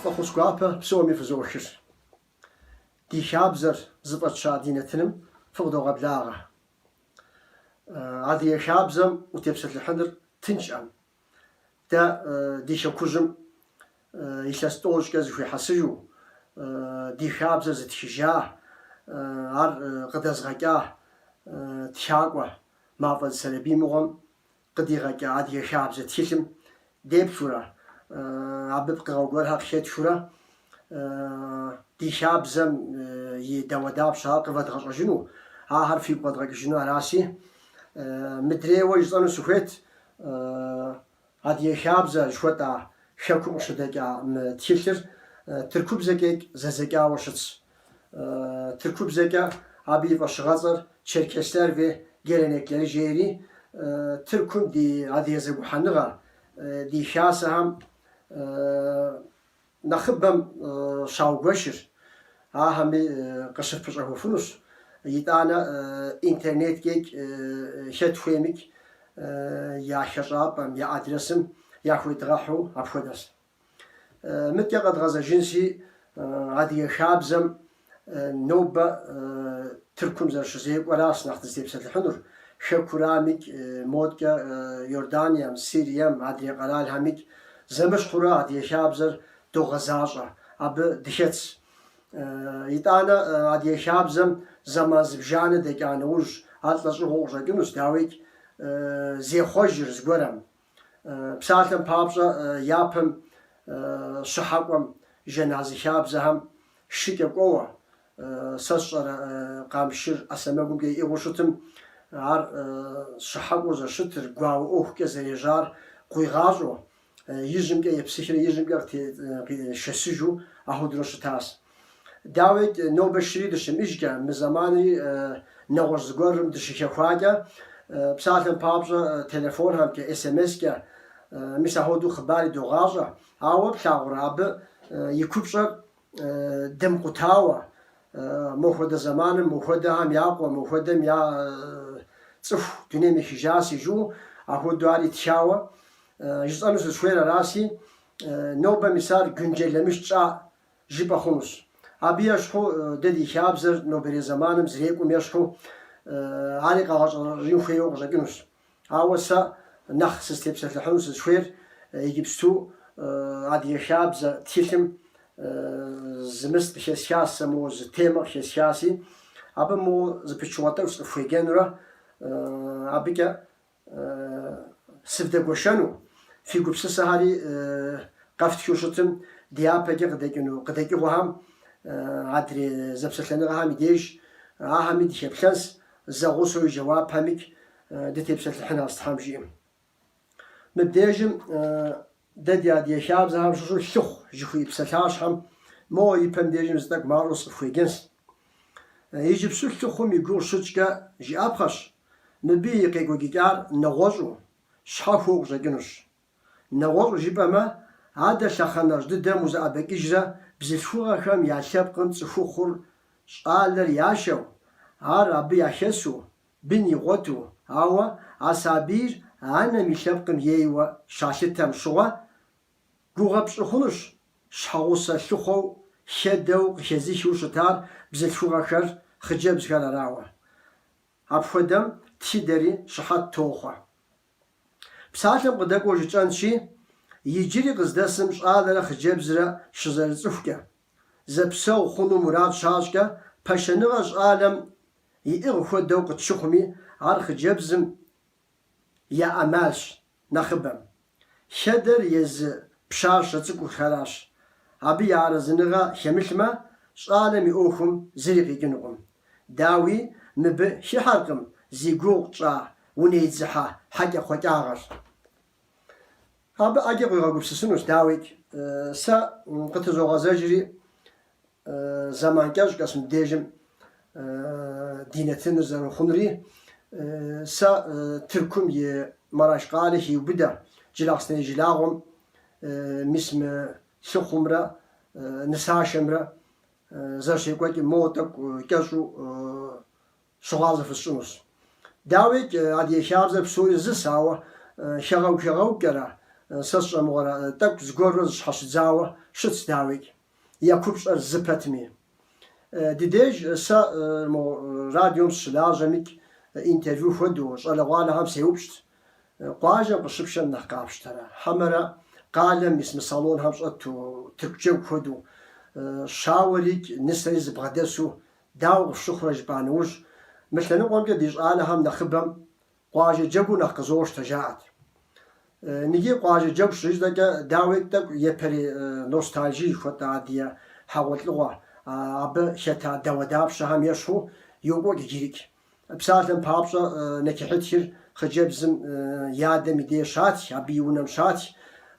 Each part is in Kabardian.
Фӏэхъус гуапэ псоми фызохыр. Ди хабзэр зыфӏэтща ди нэтыным фыкъыдогъэблагъэ. Адыгэ хабзэм утепсэлъыхьыныр тыншӏэм, Дэ ди хэкужьым илъэс тӏощӏкӏэ зэхуихьэсыжу ди хабзэр зытхыжа, ар къыдэзгъэкӏа тхакӏуэ Мафӏэдз Сэрэбий мыгъуэм къыдигъэкӏа адыгэ хабзэ тхылъым деплъурэ, абы пкъыгъэ гуэрхэр къыхетхыурэ ди хабзэм и дауэдапщэхэр къывэдгъэщӏэжыну, ахэр фигу къэдгъэкӏыжыну араси, мыдрейуэ жысӏэну сыхуейт. Адыгэ хабзэ жыхуэтӏа хэкум къыщыдэкӏа мы тхылъыр тыркубзэкӏэ икӏ зэдзэкӏауэ щытщ. Тыркубзэкӏэ абы и фӏэщыгъэцӏэр Çerkesler ve Gelenekleri жери, Тыркум ди адыгэ зэгухьэныгъэ, ди хасэхэм, Нэхъыбэм щаугуэшыр ахэми къыщыфпэщӏэхуэфынущ, итӏанэ интернеткӏэ икӏ хэт хуейм икӏ я хэщӏапӏэм, я адресым яхуедгъэхьу апхуэдэс. Мыдкӏэ къэдгъэзэжынси, адыгэ хабзэм Нобэ Тыркум зэрыщызекӏуэрас нэхъ дызытепсэлъыхьынур. Хэкурам икӏ, модкӏэ Иорданием, Сирием, адрей къэралхэм икӏ зэмыщхьурэ Адыгэ хабзэр догъэзащӏэ, абы дыхэтс. Итӏанэ Адыгэ хабзэм зэман зыбжанэ дэкӏа нэужь, ар лӏэщӏыгъуэу къыщӏэкӏынущ, дауикӏ, зехъуэжыр зыгуэрым. Псалъэм папщӏэ, япэм щыхьэкӏуэм жэназы хабзэхэм шыкӏэ кӏуэуэ, сэ сщӏэрэ, Къамшыр ӏэ сэмэгумкӏэ иӏыгъыу щытым, ар щыхьэкӏуэу зэрыщытыр, гуауэ ӏуэхукӏэ зэрежьар къуигъащӏэу, ижьымкӏэ епсыхрэ ижьымкӏэ къытешэсыжу ахуэдурэ щытащ. Дауи, нобэ шыри дыщимыӏэжкӏэ, мы зэманри нэгъуэщӏ зыгуэрым дыщыхэхуакӏэ, псалъэм папщӏэ, телефонхэмкӏэ, смскӏэ мис ахуэдэу хъыбар идогъащӏэ. Ауэ плъагъурэ абы и купщӏэр дымкъутауэ? Мо хуэдэ зэманым, мо хуэдэхэм я къуэ, мо хуэдэм я цӏыху дунейм ехыжаси жу, ахуэдэу ар итхауэ? Жысӏэну сызыхуейр араси, нобэ мис ар güncellemiş тщӏа жыпӏэ хъунущ. Абы ещхьу дэ ди хабзэр нобэрей зэманым зэрекӏум ещхьу ари къэгъэщӏэрэщӏэжын хуейуэ къыщӏэкӏынущ. Ауэ сэ нэхъ сызтепсэлъыхьыну сызыхуейр иджыпсту адыгэ хабзэ тхылъым зы мис къыхесхас сэ, моуэ зы темэ къыхесхаси, абы моуэ зы пычыгъуэ тӏэкӏу сыкъыфхуеджэнурэ абыкӏэ Сывдэгуэшэну, фи гупсысэхэри къэфтхыу щытым, дяпэкӏэ къыдэкӏыну къыдэкӏыгъуэхэм, адрей зэпсэлъэныгъэхэм и деж, ахэми дыхеплъэнс, зэгъусэу и жэуапхэмикӏ дытепсэлъыхьынус Тхьэм жиӏэм. Мыбдежым дэ ди адыгэ хабзэхэм щыщу лъыхъу жыхуиӏэ псалъащхьэм моуэ и пэм дежым зы тӏэкӏу мащӏэу сыкъыфхуеджэнс. Иджыпсту лъыхъум и гугъу щытщӏкӏэ жыӏэпхъэщ Мыбы и къекӏуэкӏыкӏар нэгъуэщӏу, щхьэхуэу къыщӏэкӏынущ. Нэгъуэщӏу жыпӏэмэ, адэ лъэхъэнэжь дыдэм узэӏэбэкӏыжрэ бзылъхугъэхэм я лъэпкъым цӏыхухъур щӏалэр яшэу, ар абы яхэсу, бын игъуэту, ауэ а сабийр анэм и лъэпкъым ейуэ щалъытэм щыгъуэ, гугъэ пщӏы хъунущ щхьэгъусэ лъыхъуэу хэдэу къыхезыхыу щытар бзылъхугъэхэр, хъыджэбзхэр арауэ. Апхуэдэм тхыдэри щыхьэт тохъуэ. Псалъэм къыдэкӏуэу жытӏэнщи, иджыри къыздэсым щӏалэрэ хъыджэбзрэ щызэрыцӏыхукӏэ, зэпсэгъу хъуну мурад щащӏкӏэ, пашэныгъэ щӏалэм иӏыгъ хуэдэу къытщыхъуми, ар хъыджэбзым, я ӏэмалщ нэхъыбэм. Хэдэр езы пщащэ цӏыкӏухэращ. Абы я арэзыныгъэ хемылъмэ, щӏалэм и ӏуэхум зыри къикӏынукъым. Дауи, мыбы хыхьэркъым зи гугъу тщӏа унэидзыхьэ хьэкӏэкхъуэкӏагъэр. Абы ӏэджэ къуигъэгупсысынущ, дауикӏ, сэ къытызогъэзэжри, Зэман кӏэщӏкӏэс мыбдежым ди нэтыныр зэрыхъунури, сэ Тыркум и Мараш къалэ хиубыдэ Джылахъсней жылагъуэм мис мы лъыхъумрэ нысашэмрэ зэрыщекӏуэкӏым моуэ тӏэкӏу кӏэщӏу щыгъуазэ фысщӏынущ. Дауейкӏ, Адыгэ хабзэр псори зыс, ауэ хэгъэгу-хэгъэгукӏэрэ, сэ сщӏэ мыгъуэрэ тӏэкӏу зыгуэрурэ зыщхьэщыдзауэ щытщ, дауейкӏ. Я купщӏэр зы пэтми. Ди деж сэ мо радиом сыщылажьэмикӏ, интервью хуэдэу, щӏалэгъуалэхэм сеупщӏт, Къуажэм къыщыпшэм нэхъ къапщтэрэ, хьэмэрэ къалэм мис мы салонхэм щӏэту тырку джэгу хуэдэу, щауэрикӏ нысэри зыбгъэдэсу дауэ къыфщыхъурэ жыпӏа нэужь, мы лъэныкъуэмкӏэ ди щӏалэхэм нэхъыбэм Къуажэ джэгур нэхъ къызощтэ, жаӏэт. Ныги къуажэ джэгу щытщӏэкӏэ, дауикӏ, тӏэкӏу япэрей ностальжи жыхуэтӏэ адыгэ хьэгъуэлӏыгъуэ, абы хета дауэдапщэхэм ещхьу йокӏуэкӏ иджырикӏ. Псалъэм папщӏэ, нэкихьытхыр хъыджэбзым и адэм и деж щатх, абы и унэм щатх.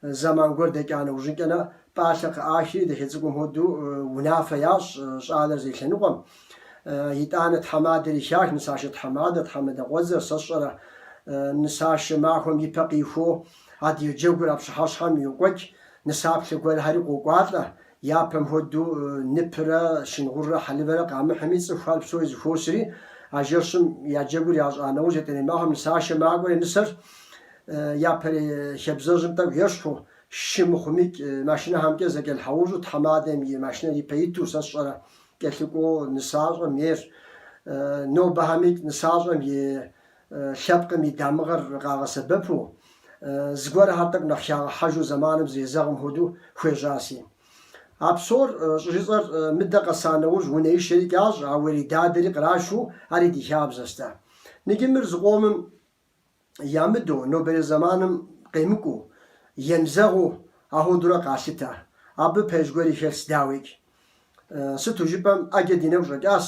Зэман гуэр дэкӏа нэужьынкӏэ нэ Пӏалъэ къыӏахри, дыщыцӏыкӏум хуэдэу, унафэ ящӏ щӏалэр зей лъэныкъуэм. Итӏанэ тхьэмадэри хах, нысашэ тхьэмадэ, тхьэмадэкъуэдзэр, сэ сщӏэрэ? Нысашэ махуэм и пэ къихуэу, адыгэ джэгур а пщыхьэщхьэм йокӏуэкӏ, нысаплъэ гуэрхьэри къокӏуалӏэ. Япэм хуэдэу, ныпрэ щынгъуррэ хьэлывэрэ къамыхьми, цӏыхухэр псори зыхуосри, а жэщым я джэгур ящӏа нэужь, етӏэрей махуэм нысашэ макӏуэри нысэр. Япэрей хабзэжьым тӏэкӏу ещхьу, Шы мыхъумикӏ машинэхэмкӏэ зэкӏэлъхьэужьу тхьэмадэм и машинэр ипэ иту, сэ сщӏэрэ, кӏэлъыкӏуэу нысащӏэм ейр. Нобэхэмикӏ нысащӏэм и лъэпкъым и дамыгъэр къагъэсэбэпу, зыгуэрхэр тӏэкӏу нэхъ хягъэхьэжу зэманым зрезэгъым хуэдэу хуежьаси. А псор щӏыжысӏэр мыдэ къэса нэужь унэишэрикӏ ящӏ, а уэридадэри кърашу ари ди хабзэщ дэ. Ныджы мыр зыкъомым ямыдэу, нобэрей зэманым къемыкӏуу, емызэгъыу ахуэдурэ къалъытэ. Абы пэж гуэри хэлъщ, дауикӏ. Сыту жыпӏэм, ӏэджэ ди нэгу щӏэкӏащ,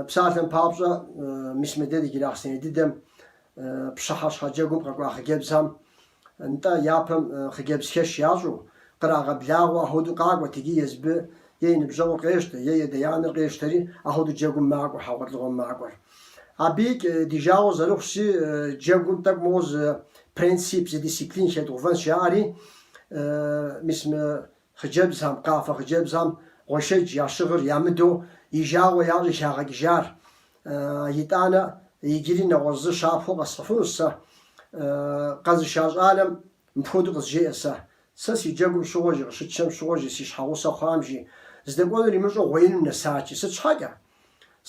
псалъэм папщӏэ, мис мыдэ ди Джылахъстэней дыдэм, пщыхьэщхьэ джэгум къэкӏуа хъыджэбзхэм, Нтӏэ, япэм хъыджэбзхэш ящӏу, кърагъэблагъэу ахуэдэу къакӏуэт икӏи езыбы е и ныбжьэгъур къещтэ, е ядэ-янэр къещтэри, ахуэдэу джэгум макӏуэ, хьэгъуэлӏыгъуэм макӏуэр. Абыикӏ ди жагъуэ зэрыхъущи, джэгум тӏэкӏу моуэ зы принцип, зы дисциплин хедгъувэнщ, жаӏэри, мис мы Хъыджэбзхэм, къафэ хъыджэбзхэм гъуэшэдж ящыгъыр ямыдэу и жагъуэ ящӏри щӏагъэкӏыжар. Итӏанэ, иджыри нэгъуэщӏ зы щапхъэу къэсхьыфынущ сэ. Къэзыша щӏалэм мыпхуэдэу къызжеӏэ сэ. Сэ си джэгум щыгъуэ жи, къыщытшэм щыгъуэ жи, си щхьэгъусэ хъуам жи, здэкӏуэнур имыщӏэу гъуеинум нэсат жи. Сыт щхьэкӏэ?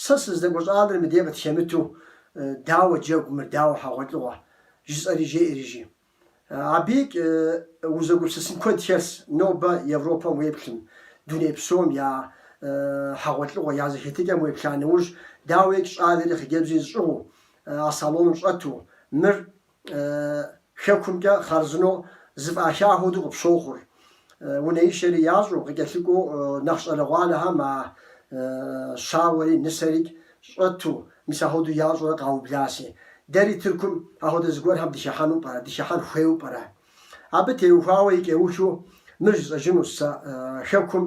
Сэ сыздэкӏуэ щӏалэр мыдей къытхемыту, дауэ джэгу мыр, дауэ хьэгъуэлӏыгъуэ? жысӏэри жеӏэри жи. Абыикӏ узэгупсысын куэд хэлъщ нобэ Европэм уеплъым, дуней псом я хьэгъуэлӏыгъуэ, я зэхетыкӏэм уеплъа нэужь, дауикӏ щӏалэри хъыджэбзи зыщӏыгъуу, а салоным щӏэту, мыр Хэкумкӏэ хъарзынэу зыфӏаха хуэдэу къыпщохъур. унэишэри ящӏу, къыкӏэлъыкӏуэу нэхъ щӏалэгъуалэхэм а щауэри нысэрикӏ щӏэту, мис ахуэдэу ящӏурэ къаубласи. Дэри Тыркум ахуэдэ зыгуэрхэм дыхихьэну пӏэрэ, дыхихьэн хуейуэ пӏэрэ? Абы теухуауэ икӏэухыу мыр жысӏэжынущ сэ, Хэкум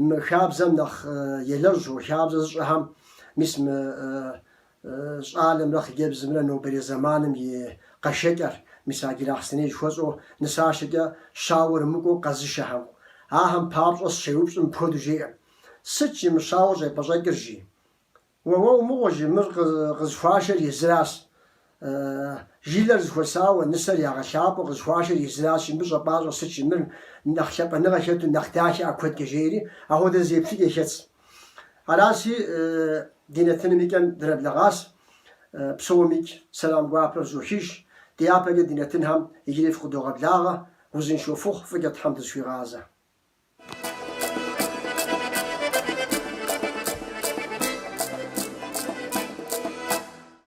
мы хабзэм нэхъ елэжьу, хабзэ зыщӏэхэм, мис мы щӏалэмрэ хъыджэбзымрэ нобэрей зэманым и къэшэкӏэр, мис а Джылахъстэней жыхуэсӏэу нысашэкӏэ щауэр мыкӏуэу къэзышэхэм. Ахэм папщӏэ сыщеупщӏым мыпхуэдэу жеӏэ, Сыт жи мы щауэр щӏепӏэщӏэкӏыр, жи? Уэ, уэ умыгъуэ, жи, мыр къызыхуашэр езыращ. Жылэр зэхуэсауэ, нысэр ягъэлъапӏэу къызыхуашэр езыращ, мыбы щӏэпӏащӏэ сыт жи, мыр нэхъ лъапӏэныгъэ хэту нэхъ дахэ ӏэ куэдкӏэ, жеӏэри, ахуэдэ зы еплъыкӏэ хэтщ. Аращи, ди нэтыным и кӏэм дрэблэгъащ, псомикӏ сэлам гуапэ фызохыж, дяпэкӏэ ди нэтынхэм иджыри фыкъыдогъэблагъэ, узыншэу фыхъу, фӏыкӏэ Тхьэм дызэхуигъазэ.